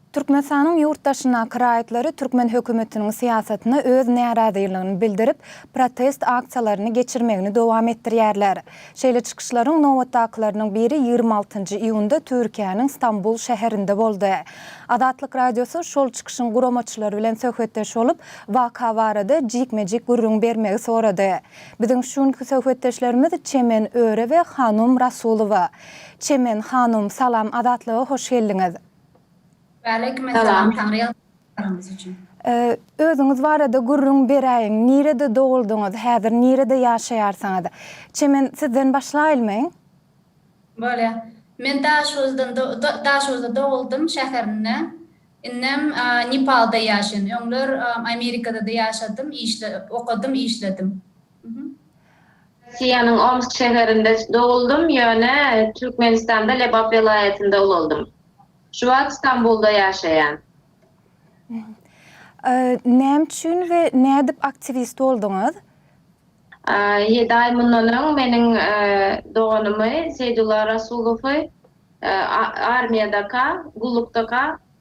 Türkmenistanyň ýurt daşyndaky raýatlary türkmen hökümetiniň syýasatyna öz närazylygyny bildirip, protest aksiýalaryny geçirmegini dowam etdirýärler. Şeýle çykyşlaryň nobatdakylarynyň biri ýigrimi altynjy iýunda Türkiýäniň Stambul şäherinde boldy. Azatlyk Radiosy şol çykyşyň guramaçylary bilen söhbetdeş bolup, waka barada jikme-jik gürrüň bermegi sorady. Biziň şu günki söhbetdeşlerimiz Çemen Öre we Hanum Rasulowa. Çemen hanum salam Azatlyga hoş geldiňiz. Waleýkim Essalam Taňry ýalkasyndalygyňyz üçin. Özüňiz barada gürrüň beräýiň nirede doguldyňyz häzir nirede ýaşaýarsyňyz. Çemen sizden başlaýylmy. Bolýa. Men Daşoguzdan Daşoguzda doguldym şäherinde. Indem Nepalda ýaşaýan. Öňler Amerikadada ýaşadym, işle okadym, işledim. Russiýanyň Omsk şäherinde doguldym, ýöne Türkmenistanda Lebap welaýatynda ulaldym. Şu wagt Stambulda ýaşaýan. Näme üçin we nädip aktiwist bolduňyz? Ýedi aý mundan öň meniň doganymy Seýdulla Rasulowy armiýadaka, gullukdaka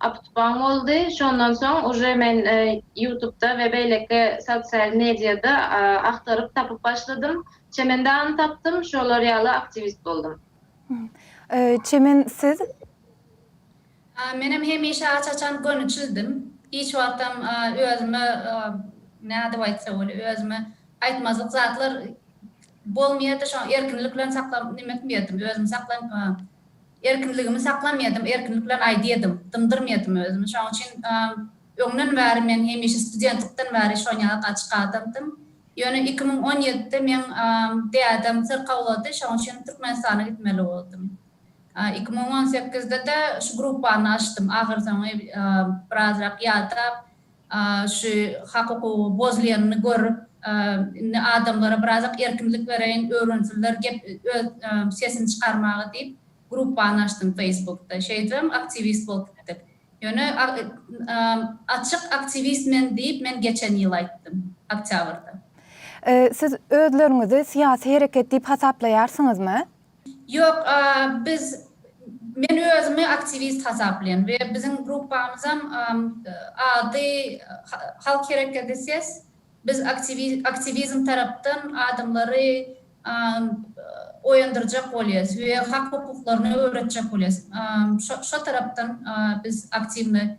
Aptbaň boldy. Şondan soň uje men ýutubda we beýleki sosial mediada agtaryp tapyp başladym. Çemen dagyny tapdym, şolar ýaly aktiwist boldum. Çemen siz? Menem hemişe aç-açan gönüçildim. Hiç wagtam özüme nädip aýtsa bole özüme aýtmazlyk zatlar bolmaýardy. Şoňa erkinlik bilen saklanyp nimetmeýärdim. Özümi saklanyp Erkinligimi saklamaýadym, erkinlik bilen aýdaýadym, dymdyrmaýadym özümi. Şonuň üçin öňden bäri men hemişe studentlikden bäri şol ýaly gaçyk adamdym. Ýöne iki müň on ýedide meň dädem syrkawlady, şonuň üçin Türkmenistana gitmeli boldum. Iki müň on sekizde-de şu gruppany açdym, ahyrsoňy birazrak ýadap, Şu hak-hukugy bozlyanyny görüp, indi adamlara birazak erkinlik bereýin, öwrensinler gep öz sesini çykarmaga diýip, gruppany açdym Facebookda. Şeýdibem aktiwist bolup gitdik. Ýöne açyk aktiwist men diýip, men geçen ýyl aýtdym, oktýabrda. Siz özleriňizi syýasy hereket diýip hasaplaýarsyňyzmy? Ýok, biz men özümi aktiwist hasaplaýan we biziň gruppamyzam ady Halk herekedi ses biz aktiwizm tarapdan adamlary oýandyrjak bolýas we hak hukuklaryny öwretjek bolýas şo tarapdan biz aktiwny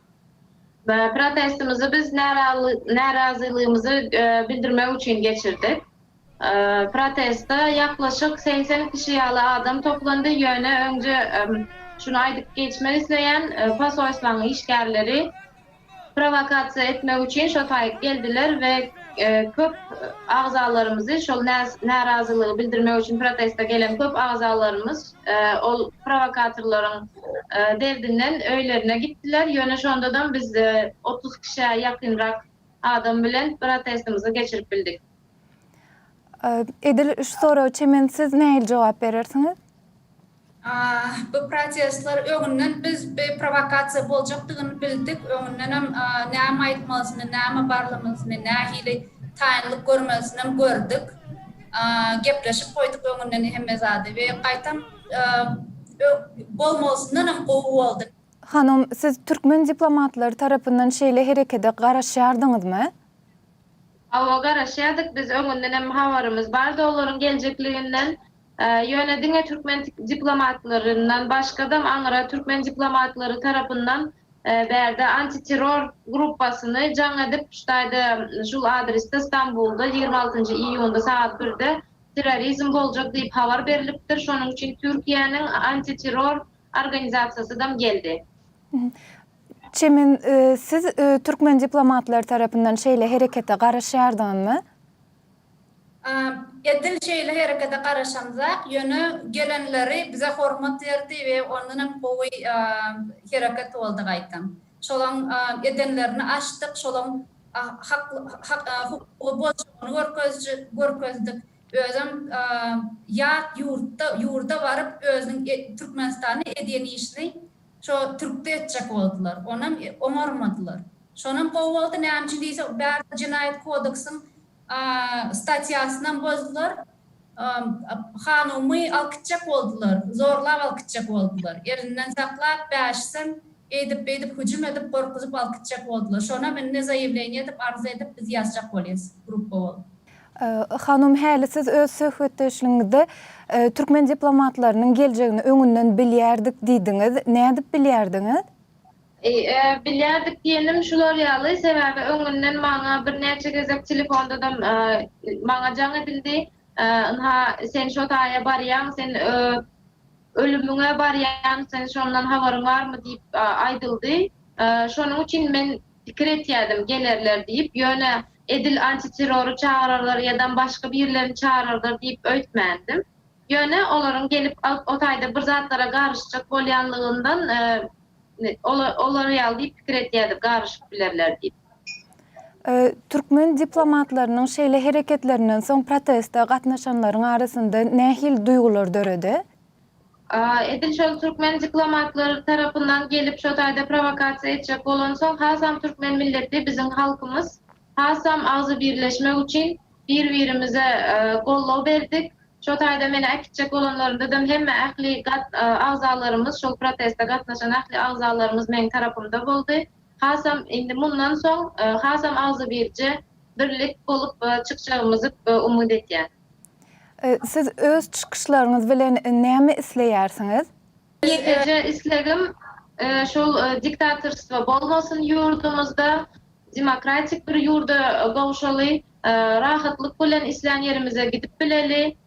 Protestimizi biz närazylygymyzy bildirmek üçin geçirdik. Proteste ýaklaşyk segsen kişi ýaly adam toplandy, ýöne öňje şuny aýdyp geçmek isleýän, posolstwanyň işgärleri prowokasiýa etmek üçin şo taýyk geldiler we köp agzalarymyzy şol närazylygy bildirmek üçin proteste gelen köp agzalarymyz Ol prowokatorlaryň derdinden öýlerine gitdiler, ýöne şondadam biz otuz kişä ýakynrak adam bilen protestimizi geçirip bildik. Edil şu soraga çemen siz nähili jogap berersiňiz? Bu protestler öňünden biz bir prowokasiýa boljakdygyny bildik, öňündenem näme aýtmalysyny, näme barlamalysyny, nähili taýynlyk görmelisinem gördük. Gepleşip goýduk öňünden hemme zady we gaýtam bolmagysyndanam gowy boldy. Hanym, siz türkmen diplomatlary tarapyndan şeýle herekede garaşýardyňyzmy? Hawa, garaşýardyk. Biz öňündenem habarymyz bardy olaryň geljekliginden. Ýöne diňe türkmen diplomatlaryndan başgadam aňyra türkmen diplomatlary tarapyndan Bärde antiterror gruppasyny jaň edip, Hytaýda şul adresde Stambulda ýigrimi altynjy iýunda sagat birde terrorizm boljak diýip habar berlipdir, şonuň üçin Türkiýäniň antiterror organizasiýasydam geldi. Çemen, siz türkmen diplomatlary tarapyndan şeýle herekete garaşýardyňyzmy? Edil şeýle herekete garaşamzak, ýöne gelenleri bize hormat berdi we ondan hem gowy hereket boldy gaýtam. Şolaň edenlerini açdyk, şolaň hukugy bozjagyny görkezdik. Özem ýat ýurtda, ýurda baryp özüniň Türkmenistanda edýän işini şo türkde etjek boldular. Onam oňarmadylar. Şonam gowy boldy, näme üçin diýsek, bärde jenaýat kodeksiň statýasynam bozdular, hanumy alkytjak boldular, zorlap alkytjak boldular, elinden saklap, bäşsin, eýdip-beýdip hüjüm edip, gorkuzyp alkytjak boldular, şonam indi zaýewleniýe edip, arza edip biz ýazjak bolýas gruppa bolup. Hanum häli siz öz söhbetdeşligiňizde türkmen diplomatlarynyň geljegini öňünden bilýärdik diýdiňiz, nädip bilýärdiňiz? Bilýärdik diýenim şular ýaly, sebäbi öňünden maňa birnäçe gezek telefondanam maňa jaň edildi, ynha, sen şo taýa barýaň, sen ölümiňe barýaň, seň şondan habaryň barmy diýip aýdyldy. Şonuň üçin men pikir etýärdim, gelerler diýip, ýöne edil antiterrory çagyrarlar ýadam başga birlerini çagyrarlar diýip öýtmändim. Ýöne olaryň gelip o taýda bir zatlara garyşjak bolýanlygyndan Olar ýaly diýip pikir etýärdi, garyşyp bilerler diýip. Türkmen diplomatlarynyň şeýle hereketlerinden soň proteste gatnaşanlaryň arasynda nähili duýgular döredi? Edil şol türkmen diplomatlary tarapyndan gelip şo taýda prowokasiýa etjek bolansoň hasam türkmen milleti, biziň halkymyz hasam agzybirleşmek üçin Bir-birimize goldaw berdik. Şo taýda meni äkitjek bolanlarynda-dam hemme ähli gat agzalarymyz, şol proteste gatnaşan ähli agzalarymyz meň tarapymda boldy. Hasam indi mundan soň hasam agzybirje birlik bolup çykjagymyzy umyt etýän. Siz öz çykyşlaryňyz bilen näme isleýärsiňiz? Ýekeje islegim şol diktatorstwo bolmasyn ýurdumyzda demokratik bir ýurda gowşaly rahatlyk bilen islän ýerimize gidip bileli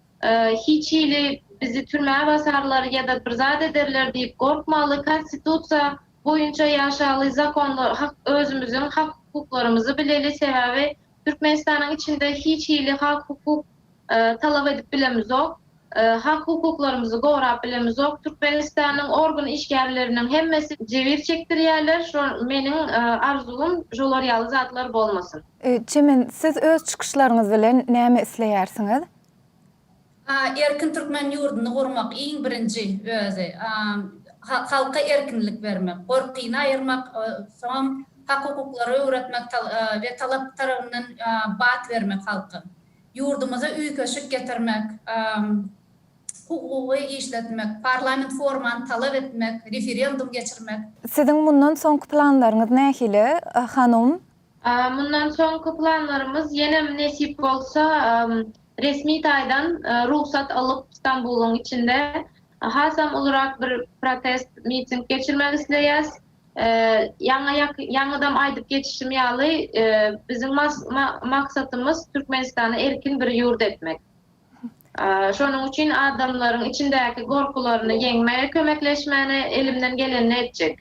hiç hili bizi türmä basarlar ýada bir zat ederler diýip gorkmaly konstitusiýa boýunça ýaşaly zakonly hak özümiziň hak hukuklarymyzy bileli sebäbi türkmenistanyň içinde hiç hili hak hukuk talap edip bilemizok, hak-hukuklarymyzy gorap bilemizok, Türkmenistanyň organ işgärleriniň hemmesi jebir çekdirýärler, şol meniň arzuwym şolar ýaly zatlar bolmasyn. Çemen siz öz çykyşlaryňyz bilen näme isleýärsiňiz? A Erkin türkmen ýurduny gurmak iň birinji özi. A Halka erkinlik bermek, gorkyny aýyrmak, soňam hak-hukuklary öwretmek we talap tarabyndan bat bermek halka. ýurdumyza üýkeşik getirmek, hukugy işletmek, parlament formany talap etmek, referendum geçirmek. Siziň mundan soňky planlaryňyz nähili, hanym? Mundan soňky planlarymyz ýenem nesip bolsa resmi taýdan rugsat alyp Stambulyň içinde hasam ulurak bir protest miting geçirmek isleýäs. Ýaňy-ýaňydam aýdyp geçişim ýaly, biziň maksadymyz Türkmenistany erkin bir ýurt etmek. Şonuň üçin adamlaryň içindäki gorkularyny ýeňmäge kömekleşmäni elimden gelenini etjek.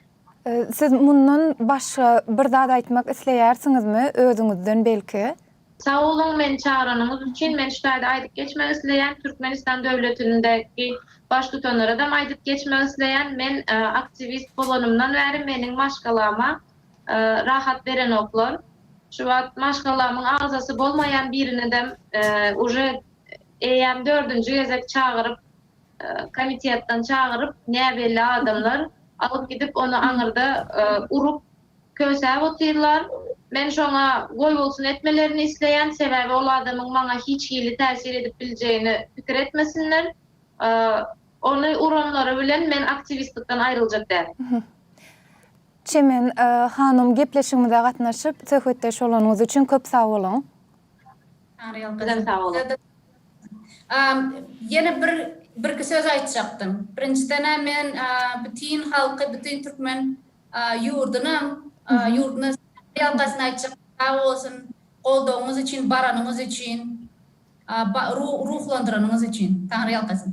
Siz mundan başga bir zat aýtmak isleýärsiňizmi, özüňizden belki? Sag boluň meni çagyranyňyz üçin men şu taýda aýdyp geçmek isleýän Türkmenistan döwletindäki baştutanlaradam aýdyp geçmek isleýän men aktiwist bolanymdan bäri meniň maşgalama rahat berenoklar şu wagt maşgalamyň agzasy bolmaýan birinidem uje eýýäm dördünji gezek çagyryp komitetden çagyryp näbelli adamlar alyp gidip ony aňyrda urup Kösäp otyrlar. Men şoňa goýbolsun etmelerini isleýän, sebäbi ol adamyň maňa hiç hili täsir edip biljegini pikir etmesinler. Ony uranlary bilen men aktiwistlikden aýryljak däl. Çemen hanym gepleşigimize gatnaşyp söhbetdeş bolanyňyz üçin köp sag boluň. Sizem sag boluň. Ýene bir birki söz aýtjakdym. Birinjiden-ä men bütin halky, bütin türkmen Ýurdunam ýurduna ýalkasyn aýtjak sag bolsun goldawyňyz üçin baranyňyz üçin ruhlandyranyňyz üçin taňryýalkasyn.